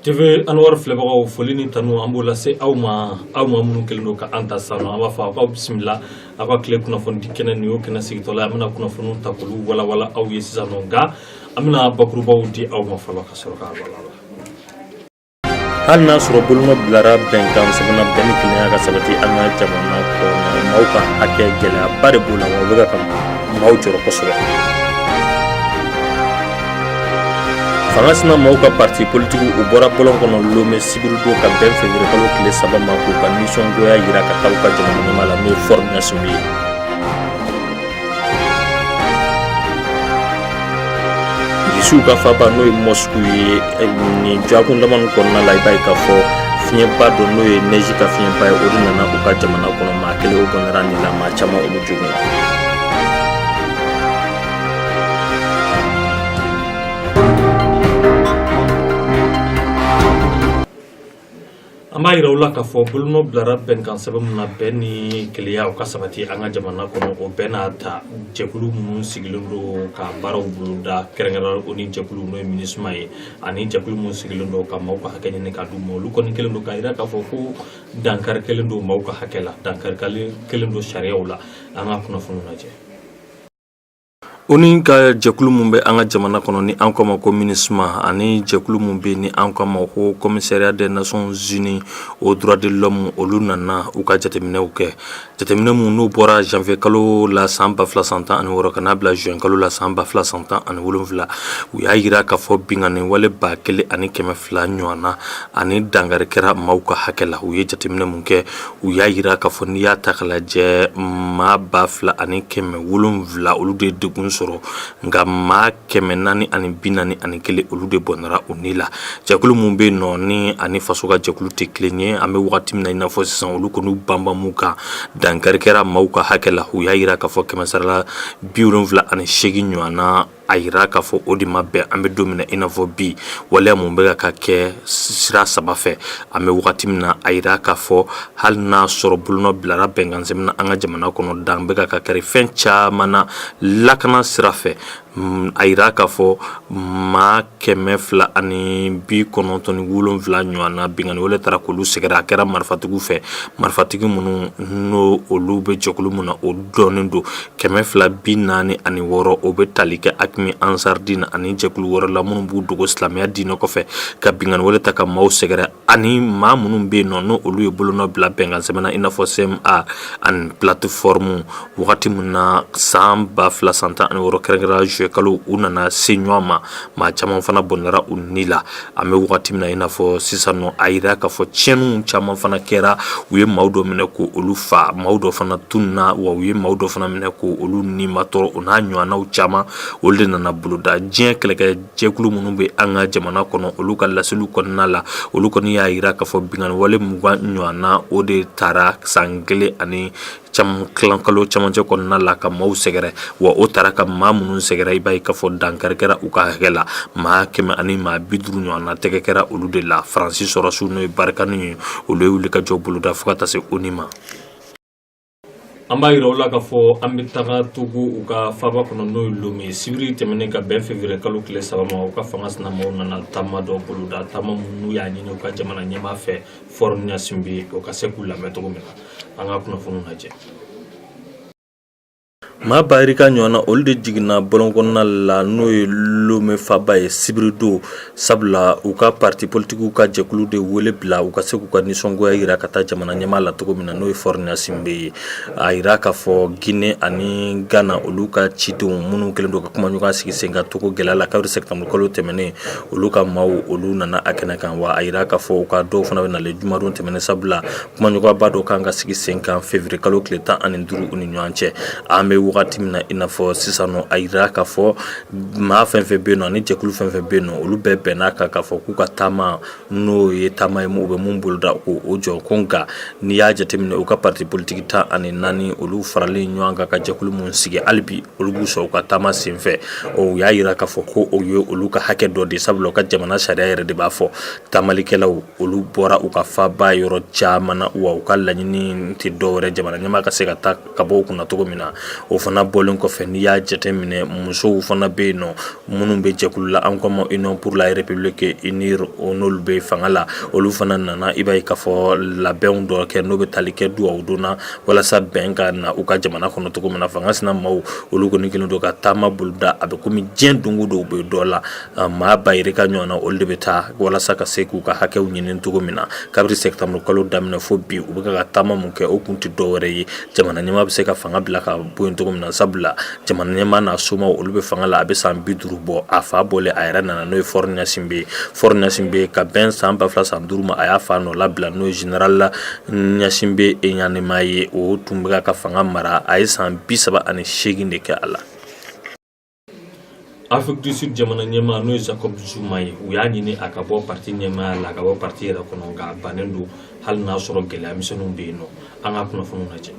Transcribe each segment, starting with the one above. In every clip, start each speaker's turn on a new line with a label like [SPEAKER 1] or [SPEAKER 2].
[SPEAKER 1] TV Anwar filɛbagaw foli ni tanu an b'o lase aw ma aw maa minnu kɛlen don ka an ta sisan nɔ an b'a fɔ aw k'aw bisimila aw ka tile kunnafonidi kɛnɛ nin y'o kɛnɛ sigitɔla ye an bɛna kunnafoniw ta k'olu walawala aw ye sisan nɔ nka an bɛna bakurubaw di aw ma fɔlɔ ka sɔrɔ k'a
[SPEAKER 2] walawala hali n'a sɔrɔ bolonɔ bilara bɛnkan sɛbɛn na bɛn ni kelenya ka sabati an ka jamana kɔnɔ maaw ka hakɛ gɛlɛyaba de b'o la wa o bɛ ka maaw jɔrɔ kosɛbɛ fanga sina maaw ka parti politiki u bɔra bɔlɔn kɔnɔ Lomé sibiridon ka bɛn février kalo tile saba ma k'u ka nisɔngoya yira ka taa u ka jamana ɲɛmaa la n'o ye Faure Gnassingbé ye irisiw ka faaba n'o ye Moscou ye eh, nin dɔgɔkun damani kɔnɔna la i b'a ye k'a fɔ fiɲɛba dɔ n'o ye neige ka fiɲɛba ye o de nana u ka jamana kɔnɔ maa kelen o bɔnɛra a ni la maa caman olu joginna
[SPEAKER 1] an b'a yira aw la k'a fɔ bolonɔ bilara bɛnkan sɛbɛn min na bɛn ni kelenya o ka sabati an ka jamana kɔnɔ o bɛɛ n'a ta jɛkulu minnu sigilen don ka baaraw boloda kɛrɛnkɛrɛn ONU jɛkulu n'o ye MINUSMA ye ani jɛkulu minnu sigilen don ka maaw ka hakɛ ɲini ka d'u ma olu kɔni kɛlen don k'a yira k'a fɔ ko dankari kɛlen don maaw ka hakɛ la dankari kɛlen don sariyaw la an ka kunnafoniw lajɛ
[SPEAKER 2] ONU ka jɛkulu min bɛ an ka jamana kɔnɔ ni an k'o ma ko MINUSMA ani jɛkulu min bɛ ni an k'o ma ko Commissariat des Nations Unies aux droits de l'homme olu nana u ka jateminɛw kɛ jateminɛ minnu n'u bɔra janvier kalo la san ba fila san tan ani wɔɔrɔ ka n'a bila juin kalo la san ba fila san tan ani wolonwula u y'a yira k'a fɔ binkanni wale ba kelen ani kɛmɛ fila ɲɔgɔn na ani dankari kɛra maaw ka hakɛ la u ye jateminɛ min kɛ u y'a yira k'a fɔ n'i y'a ta k'a lajɛ maa ba fila ani kɛmɛ wolonwula olu de ye degun sɔrɔ nka maa kɛmɛ naani ani bi naani ani kelen olu de bɔnɛra u ni la jɛkulu minnu bɛ nɔ ni ani faso ka jɛkulu tɛ kelen ye an bɛ wagati min na i n'a fɔ sisan olu kɔni banbanmu kan dankari kɛra maaw ka hakɛ la u y'a yira k'a fɔ kɛmɛsarala bi wolonwula ani seegin ɲɔgɔn na a yira k'a fɔ o de ma bɛn an bɛ don min na i n'a fɔ bi waleya mun bɛ ka kɛ sira saba fɛ an bɛ wagati min na a yira k'a fɔ hali n'a sɔrɔ bolonɔ bilara bɛnkansɛbɛn na an ka jamana kɔnɔ dan bɛ ka kari fɛn caman na lakana sira fɛ a yira k'a fɔ maa kɛmɛ fila ani bi kɔnɔntɔn ni wolonwula ɲɔgɔn na binkanni wale taara k'olu sɛgɛrɛ a kɛra marifatigiw fɛ marifatigi minnu n'olu bɛ jɛkulu min na o dɔnnen don kɛmɛ fila bi naani ani wɔɔrɔ o bɛ tali kɛ AQMI Ansar Dine ani jɛkulu wɛrɛ la minnu b'u dogo silamɛya diinɛ kɔfɛ ka binkanni wale ta ka maaw sɛgɛrɛ ani maa minnu bɛ yen nɔ n'olu ye bolonɔ bila bɛnkan sɛbɛn na i n'a fɔ CMA ani plateforme wagati min na san ba fila san tan ani wɔɔrɔ kɛrɛnkɛrɛnnenya juillet kalo u nana se ɲɔgɔn ma maa caman fana bɔnɛra u ni la an bɛ wagati min na i n'a fɔ sisan nɔ a yira k'a fɔ tiɲɛniw caman fana kɛra u ye maaw dɔ minɛ k'olu fa maaw dɔ fana tununna wa u ye maaw dɔ fana minɛ k'olu nimatɔɔrɔ o n'a ɲɔgɔnnaw caman olu de nana boloda diɲɛ kɛlɛkɛ jɛkulu minnu bɛ an ka jamana kɔnɔ olu ka laseliw kɔnɔna la olu kɔni y'a yira k'a fɔ binkanni wale mugan ɲɔgɔn na o de taara san kelen ani kalo camancɛ kɔnɔna la ka maaw sɛgɛrɛ wa o taara ka maa minnu sɛgɛrɛ i b'a ye k'a fɔ dankari kɛra u ka hakɛ la maa kɛmɛ ani maa bi duuru ɲɔgɔn na tɛgɛ kɛra olu de la Faransi sɔrɔdasiw n'o ye barikani ye olu ye wulikajɔ boloda fo ka taa se ONU ma
[SPEAKER 1] an b'a yira u la k'a fɔ an bɛ taga Togo u ka faaba kɔnɔ n'o ye Lome ye sibiri tɛmɛnen ka bɛn février kalo tile saba ma u ka fanga sinamaw nana taama dɔ boloda taama minnu y'a ɲini u ka jamana ɲɛmaa fɛ Faure Gnassingbé o ka se k'u lamɛn cogo min na an ka kunnafoniw lajɛ
[SPEAKER 2] Maa ba yirika ɲɔgɔnna olu de jiginna bɔlɔn kɔnɔna la n'o ye Lome faaba ye sibiridon sabula u ka parti politikiw ka jɛkulu de wele bila u ka se k'u ka nisɔngoya yira ka taa jamana ɲɛmaa la cogo min na n'o ye Faure Gnassingbé ye a yira k'a fɔ Guinée ani Ghana olu ka cidenw minnu kɛlen don ka kumaɲɔgɔn sigi sen kan Togo gɛlɛya la kabiri septembre kalo tɛmɛnen olu ka maaw olu nana a kɛnɛ kan wa a yira k'a fɔ u ka dɔw fana bɛ nalen jumadon tɛmɛnen sabula Kumaɲɔgɔnyaba dɔ ka kan ka sigi sen kan février kalo tile tan ani duuru u ni ɲɔgɔn cɛ an bɛ wagati min na i n'a fɔ sisan a yira k'a fɔ maa fɛn fɛn bɛ yen nɔ ani jɛkulu fɛn fɛn bɛ yen nɔ olu bɛɛ bɛnna a kan k'a fɔ k'u ka taama n'o ye taama ye u bɛ min boloda k'o jɔ ko nka n'i y'a jateminɛ u ka parti politiki tan ani naani olu faralen ɲɔgɔn kan ka jɛkulu min sigi hali bi olu b'u sɔrɔ u ka taama senfɛ o y'a yira k'a fɔ ko o ye olu ka hakɛ dɔ de sabula u ka jamana sariya yɛrɛ de b'a fɔ taamalikɛlaw olu bɔra u ka faaba yɔrɔ caman na wa u ka laɲini tɛ dɔwɛrɛ jamana ɲɛmaa ka se ka taa ka bɔ u kunna cogo min na o fana bɔlen kɔfɛ n'i y'a jateminɛ musow fana bɛ yen nɔ minnu bɛ jɛkulu la an ko ma Union pour la République UNIR n'olu bɛ fanga la olu fana nana i b'a ye k'a fɔ labɛnw dɔ kɛ n'o bɛ tali kɛ duwawu don na walasa bɛn ka na u ka jamana kɔnɔ cogo min na fanga sinamaw olu kɔni kɛlen don ka taama boloda a bɛ kɔmi diɲɛ don o don u bɛ dɔ la Maa ba yirika ɲɔgɔn na olu de bɛ taa walasa ka se k'u ka hakɛw ɲini cogo min na kabiri septembre kalo daminɛ fo bi u bɛ ka taama min kɛ o kun tɛ dɔwɛrɛ ye jamana ɲɛmaa bɛ se ka fanga bila ka bɔ yen cogo min na sabula jamana ɲɛmaa n'a somaw olu bɛ fanga la a bɛ san bi duuru bɔ a fa bɔlen a yɛrɛ nana n'o ye Faure Gnassingbé ye ka bɛn san ba fila san duuru ma a y'a fa nɔnabila n'o ye général Gnassingbé Eyadéma ye o tun bɛ ka fanga mara a ye san bi saba ani seegin de kɛ a la
[SPEAKER 1] Afrique du Sud jamana ɲɛmaa n'o ye Jacob Zuma ye u y'a ɲini a ka bɔ parti ɲɛmaaya la a ka bɔ parti yɛrɛ kɔnɔ nka a bannen don hali n'a sɔrɔ gɛlɛya misɛnninw bɛ yen nɔ an ka kunnafoniw lajɛ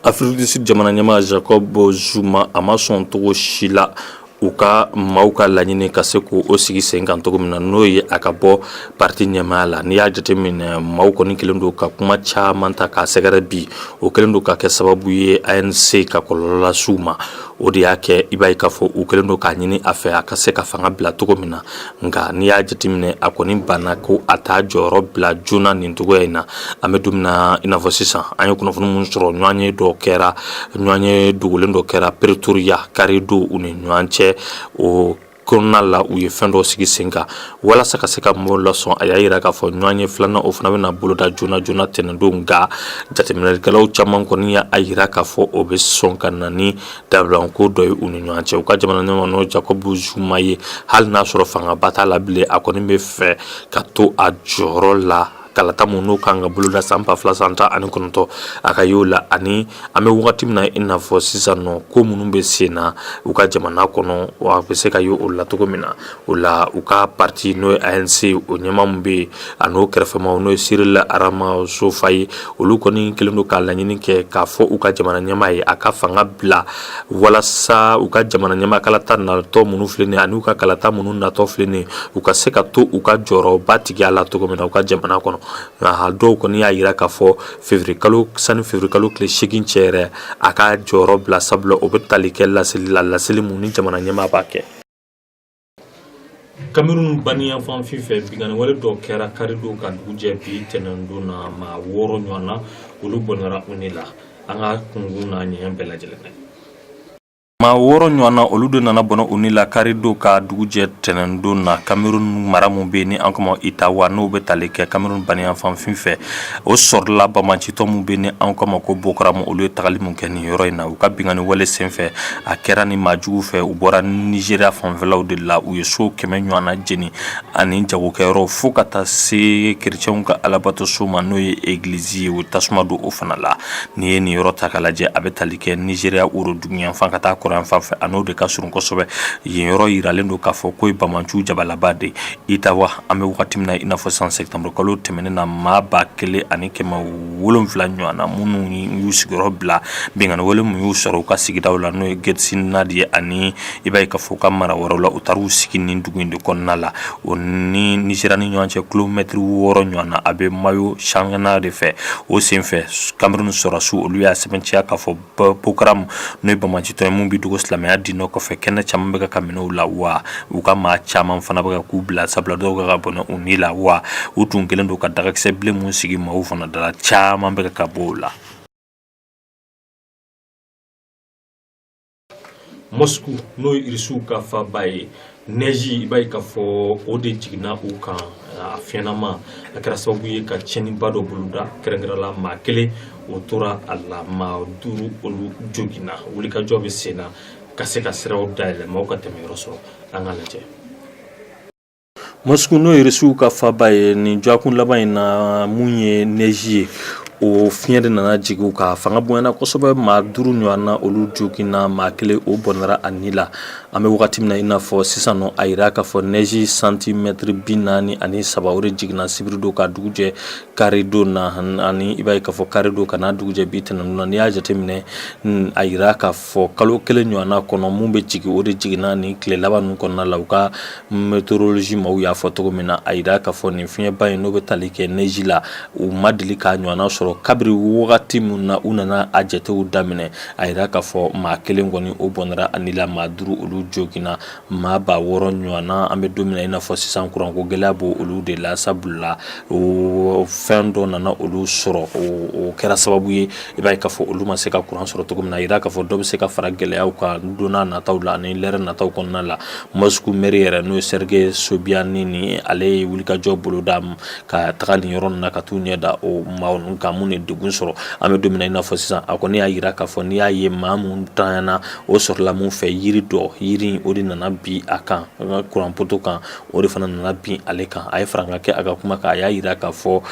[SPEAKER 2] Afrique du Sud jamana ɲɛmaa Jacob Zuma a ma sɔn cogo si la u ka maaw ka laɲini ka se k'o sigi sen kan cogo min na n'o ye a ka bɔ parti ɲɛmaaya la n'i y'a jateminɛ maaw kɔni kelen don ka kuma caman ta k'a sɛgɛrɛ bi o kɛlen don ka kɛ sababu ye ANC ka kɔlɔlɔ lase u ma o de y'a kɛ i b'a ye k'a fɔ u kɛlen don k'a ɲini a fɛ a ka se ka fanga bila cogo min na nka n'i y'a jateminɛ a kɔni banna ko a t'a jɔyɔrɔ bila joona nin cogoya in na an bɛ don min na i n'a fɔ sisan an ye kunnafoni minnu sɔrɔ ɲɔgɔnye dɔ kɛra ɲɔgɔnye dogolen dɔ kɛra Pretoria kari don u ni ɲɔgɔn cɛ o kɔnɔna la u ye fɛn dɔ sigi sen kan walasa ka se ka mɔgɔw lasɔn a y'a jira k'a fɔ ɲɔgɔnye filanan o fana bɛna boloda joona joona tɛnɛndon nka jateminɛlikɛlaw caman kɔni y'a jira k'a fɔ o bɛ sɔn ka na ni dabilanko dɔ ye u ni ɲɔgɔn cɛ u ka jamana ɲɛmaa n'o Jacob Zuma ye hali n'a sɔrɔ fangaba t'a la bilen a kɔni bɛ fɛ ka to a jɔyɔrɔ la kalata minnu n'o kan ka boloda san ba fila san tan ani kɔnɔntɔn a ka y'o la ani an bɛ wagati min na i n'a fɔ sisan nɔ ko minnu bɛ sen na u ka jamana kɔnɔ wa a bɛ se ka y'o la cogo min na o la u ka parti n'o ye ANC o ɲɛmaa min bɛ yen ani o kɛrɛfɛmaa n'o ye Cyril Ramaphosa ye olu kɔni kelen don ka laɲini kɛ k'a fɔ u ka jamana ɲɛmaa ye a ka fanga bila walasa u ka jamana ɲɛmaa kalata natɔ minnu filɛ nin ye ani u ka kalata minnu natɔ filɛ nin ye u ka se ka to u ka jɔyɔrɔbatigiya la cogo min na u ka jamana kɔnɔ nka dɔw kɔni y'a jira k'a fɔ février kalo sani février kalo tile seegin cɛ yɛrɛ a ka jɔyɔrɔ bila sabula o bɛ tali kɛ laseli la laseli mun ni jamana ɲɛmaa b'a kɛ
[SPEAKER 1] Cameroun baniyanfan fin fɛ binkanni wale dɔ kɛra karido ka dugu jɛ bi tɛnɛndon na maa wɔɔrɔ ɲɔgɔn na olu bɔnɛra u ni la an k'a kunkun n'a ɲɛɲɛ bɛɛ lajɛlen na
[SPEAKER 2] maa wɔɔrɔ ɲɔgɔn na olu de nana bɔnɛ u ni la karido ka dugu jɛ tɛnɛndon na Cameroun mara min bɛ yen ni an ko a ma ko Itawa n'o bɛ tali kɛ Cameroun baniyanfan fin fɛ o sɔrɔla banbaancitɔn min bɛ yen ni an ko a ma ko Boko Haram olu ye tagali min kɛ nin yɔrɔ in na u ka binkanni wale senfɛ a kɛra nin maa juguw fɛ u bɔra Nigeria fanfɛlaw de la u ye so kɛmɛ ɲɔgɔn na jeni ani jagokɛyɔrɔ fo ka taa se kerecɛnw ka alabato so ma n'o ye egilizi ye u tasuma don o fana la n'i ye nin yɔrɔ ta k'a lajɛ a bɛ tali kɛ Nigeria woroduguyanfan ka taa kɔrɔnyanfan fɛ a n'o de ka surun kosɛbɛ yen yɔrɔ jiralen don k'a fɔ k'o ye banbaanciw jabalaba de Itawa an bɛ wagati min na i n'a fɔ san septembre kalo tɛmɛnen na maa ba kelen ani kɛmɛ wolonwula ɲɔgɔn na minnu y'u sigiyɔrɔ bila binkanni wale min y'u sɔrɔ u ka sigidaw la n'o ye Getsina de ye ani i b'a ye k'a fɔ u ka mara wɛrɛ la u taara u sigi nin dugu in de kɔnɔna la o ni Nigeria ni ɲɔgɔn cɛ kilomɛtiri wɔɔrɔ ɲɔgɔn na a bɛ Mayo Tsanaga de fɛ o senfɛ Cameroun sɔrɔsiw olu y'a sɛbɛntiya k'a fɔ bokoharamu n'o ye banbaancitɔn ye mun bɛ dogo silamɛya diinɛ kɔfɛ kɛnɛ caman bɛ ka ka minɛ u la wa u ka maa caman fana bɛ ka k'u bila sabula dɔw ka ka bɔnɛ u ni la wa u tun kɛlen don ka dagakisɛ bilen mun sigi maaw fana da la caman bɛ ka ka bɔ o
[SPEAKER 1] la mosku n'o ye irisiw ka faaba ye nɛji i b'a ye k'a fɔ o de jiginna u kan a fiɲɛnama a kɛra sababu ye ka tiɲɛniba dɔ boloda kɛrɛnkɛrɛnla maa kelen o tora a la maa duuru olu joginna wulikajɔ bɛ sen na ka se ka siraw dayɛlɛ maaw ka tɛmɛ yɔrɔ sɔrɔ an ka lajɛ
[SPEAKER 2] mosku n'o ye irisiw ka faaba ye nin dɔgɔkun laban in na mun ye nɛji ye o fiɲɛ de nana jigin u kan fanga bonyana kosɛbɛ maa duuru ɲɔgɔnna olu joginna maa kelen o bɔnɛra a ni la An bɛ wagati min na i n'a fɔ sisan nɔ a jira k'a fɔ neige centimètre 43 o de jiginna sibiri don ka dugu jɛ kari don na ani i b'a ye k'a fɔ kari don ka n'a dugu jɛ bi tɛnɛndon na n'i y'a jateminɛ a jira k'a fɔ kalo kelen ɲɔgɔnna kɔnɔ mun bɛ jigin o de jiginna nin tile laban ninnu kɔnɔna la u ka météorologie maaw y'a fɔ cogo min na a jira k'a fɔ nin fiɲɛba in n'o bɛ tali kɛ neige la u ma deli k'a ɲɔgɔnna sɔrɔ kabiri wagati min na u nana a jatew daminɛ a jira k'a fɔ maa kelen kɔni o bɔnɛra a ni la maa duuru olu joginna maa ba wɔɔrɔ ɲɔgɔnna an bɛ don min na i n'a fɔ sisan kuranko gɛlɛya b'olu de la sabula o fɛn dɔ nana olu sɔrɔ o kɛra sababu ye i b'a ye k'a fɔ olu ma se ka kuran sɔrɔ cogo min na a jira k'a fɔ dɔ bɛ se ka fara gɛlɛyaw kan donna nataw la ani lɛrɛ nataw kɔnɔna la Moscou maire yɛrɛ n'o ye Sergei Sobyanin ale ye wulikajɔ boloda ka taga nin yɔrɔ ninnu na ka taa u ɲɛ da o maa ninnu kan minnu ye degun sɔrɔ an bɛ don min na i n'a fɔ sisan a kɔni y'a jira k'a fɔ n'i y'a ye maa mun tanyana o sɔrɔla mun fɛ yiri dɔ yiri o de nana bin a kan an ka kuran poto kan o de fana nana bin ale kan a ye farankan kɛ a ka kuma kan a y'a jira k'a fɔ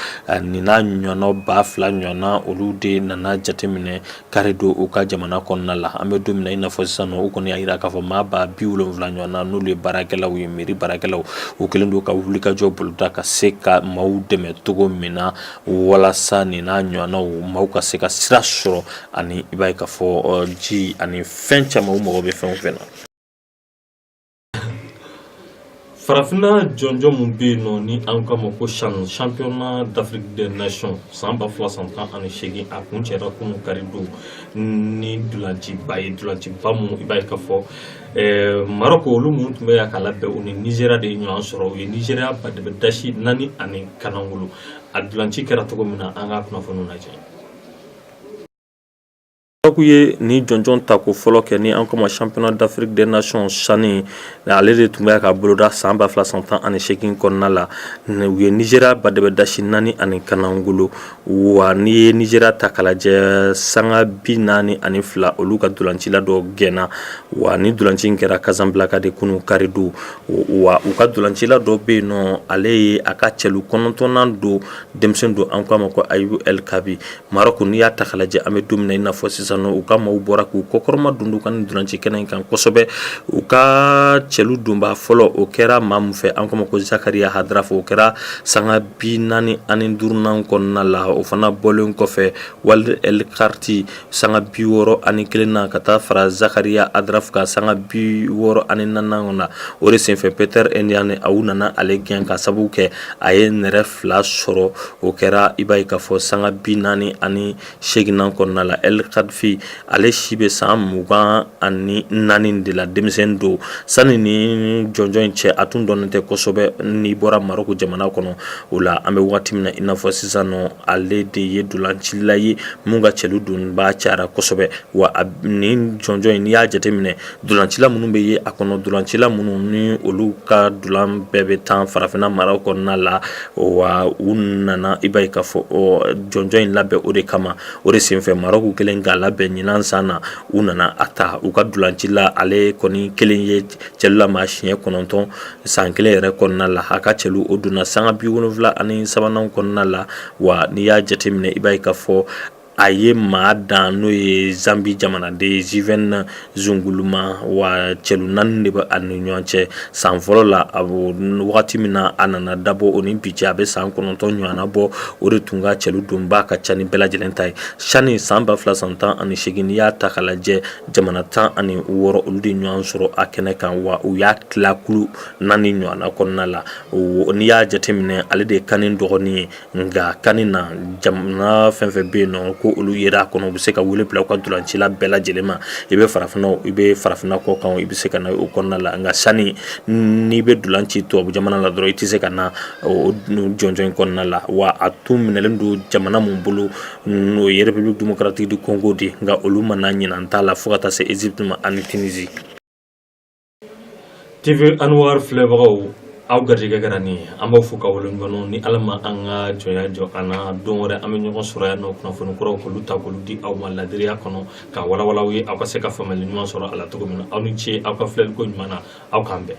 [SPEAKER 2] nin n'a ɲɔgɔnna ba fila ɲɔgɔnna olu de nana jateminɛ kari don u ka jamana kɔnɔna la an bɛ don min na i n'a fɔ sisan nɔ u kɔni y'a jira k'a fɔ maa ba bi wolonwula ɲɔgɔnna n'olu ye baarakɛlaw ye mairie baarakɛlaw u kɛlen don ka wulikajɔ boloda ka se ka maaw dɛmɛ cogo min na walasa nin n'a ɲɔgɔnnaw maaw ka se ka sira sɔrɔ ani i b'a ye k'a fɔ ji ani fɛn caman u mago bɛ fɛn o fɛn na
[SPEAKER 1] farafinna jɔnjɔn mun bɛ yen nɔ ni an k'a ma ko CHAN championnat d'Afrique des nations san ba fila san tan ani seegin a kuncɛra kunun kari don ni dolanciba ye dolanciba mun i b'a ye k'a fɔ Eh, marɔko olu mun tun bɛ yan ka labɛn u ni nizeriya de ye ɲɔgɔn sɔrɔ u ye nizeriya badɛbɛ dasi naani ani kanangolo a dulanci kɛra cogo min na an ka kunnafoniw lajɛ
[SPEAKER 2] Maroc ye nin jɔnjɔn ta ko fɔlɔ kɛ ni an k'o ma championnat d'Afrique des nations CHAN ale de tun bɛ ka boloda san ba fila san tan ani segin kɔnɔna la u ye Nigeria badɛbɛ dasi naani ani kanagolo wa n'i ye Nigeria ta k'a lajɛ sanga bi naani ani fila olu ka ntolancila dɔ gɛnna wa nin ntolanci kɛra Casablanca de kunun karidon wa u ka ntolancila dɔ bɛ yen nɔ ale ye a ka cɛlu kɔnɔntɔnnan don denmisɛn don an k'a ma ko Ayoub El Kaabi Maroc n'i y'a ta k'a lajɛ an bɛ don min na i n'a fɔ sisan u ka maaw bɔra k'u kɔkɔrɔmadondon ka dolanci kɛnɛ in kan kosɛbɛ u ka cɛlu donba fɔlɔ o kɛra maa min fɛ an k'o ma ko Zakaria Hadraf o kɛra sanga bi naani ani duurunan kɔnɔna la o fana bɔlen kɔfɛ Walid El Karti sanga bi wɔɔrɔ ani kelen na ka taa fara Zakaria Hadraf ka sanga bi wɔɔrɔ ani naaninan na o de senfɛ Peter Eneji a u nana ale gɛn ka sababu kɛ a ye nɛrɛ fila sɔrɔ o kɛra i b'a ye k'a fɔ sanga bi naani ani seginnan kɔnɔna la El Kaabi ale si bɛ san mugan ani naani de la denmisɛn don sanni nin jɔnjɔn in cɛ a tun dɔnnen tɛ kosɛbɛ n'i bɔra Maroc jamana kɔnɔ o la an bɛ waati min na i n'a fɔ sisan nɔ ale de ye dolancila ye min ka cɛlu donba cayara kosɛbɛ wa nin jɔnjɔn in n'i y'a jateminɛ Dolancila minnu bɛ ye a kɔnɔ dolancila minnu ni olu ka dolan bɛɛ bɛ tan farafinna maraw kɔnɔna la wa u nana i b'a ye k'a fɔ jɔnjɔn in labɛn o de kama o de senfɛ Maroc kelen k'a labɛn ɲinan san na u nana a ta u ka dolancila ale kɔni kelen ye cɛlu lamaa siɲɛ kɔnɔntɔn san kelen yɛrɛ kɔnɔna la a ka cɛlu o donna sanga bi wolonwula ani sabanan kɔnɔna la wa n'i y'a jateminɛ i b'a ye k'a fɔ a ye maa dan n'o ye zanbi jamanaden Given Singuluma wa cɛlu naani de bɛ a ni ɲɔgɔn cɛ san fɔlɔ la a wagati min na a nana dabɔ o ni bi cɛ a bɛ san kɔnɔntɔn ɲɔgɔnna bɔ o de tun ka cɛlu donba ka ca ni bɛɛ lajɛlen ta ye CHAN san ba fila san tan ani segin n'i y'a ta k'a lajɛ jamana tan ani wɔɔrɔ olu de ɲɔgɔn sɔrɔ a kɛnɛ kan wa u y'a tila kulu naani ɲɔgɔnna kɔnɔna la n'i y'a jateminɛ ale de ye CAN dɔgɔnin ye nka CAN na jamana fɛn fɛn bɛ yen nɔ ko olu yera a kɔnɔ u bɛ se ka wele bila u ka ntolancila bɛɛ lajɛlen ma i bɛ farafinna i bɛ farafinna kɔkan i bɛ se ka na o kɔnɔna la nka CHAN n'i bɛ dolan ci tubabu jamana la dɔrɔn i tɛ se ka na jɔnjɔn in kɔnɔna la wa a tun minɛlen don jamana min bolo n'o ye République démocratique du Congo de nka olu ma na ɲinan ta la fo ka taa se Egypte ma ani Tunisie
[SPEAKER 1] TV Anwar filɛbagaw aw garijɛgɛ kɛra nin ye an b'aw fo ka waleɲumandɔn ni ala ma an ka jɔnya jɔ an na don wɛrɛ an bɛ ɲɔgɔn sɔrɔ yan nɔ kunnafoni kuraw k'olu ta k'olu di aw ma ladiriya kɔnɔ ka walawalaw ye aw ka se ka faamuyali ɲuman sɔrɔ a la cogo min na aw ni ce aw ka filɛliko ɲuman na aw k'an bɛn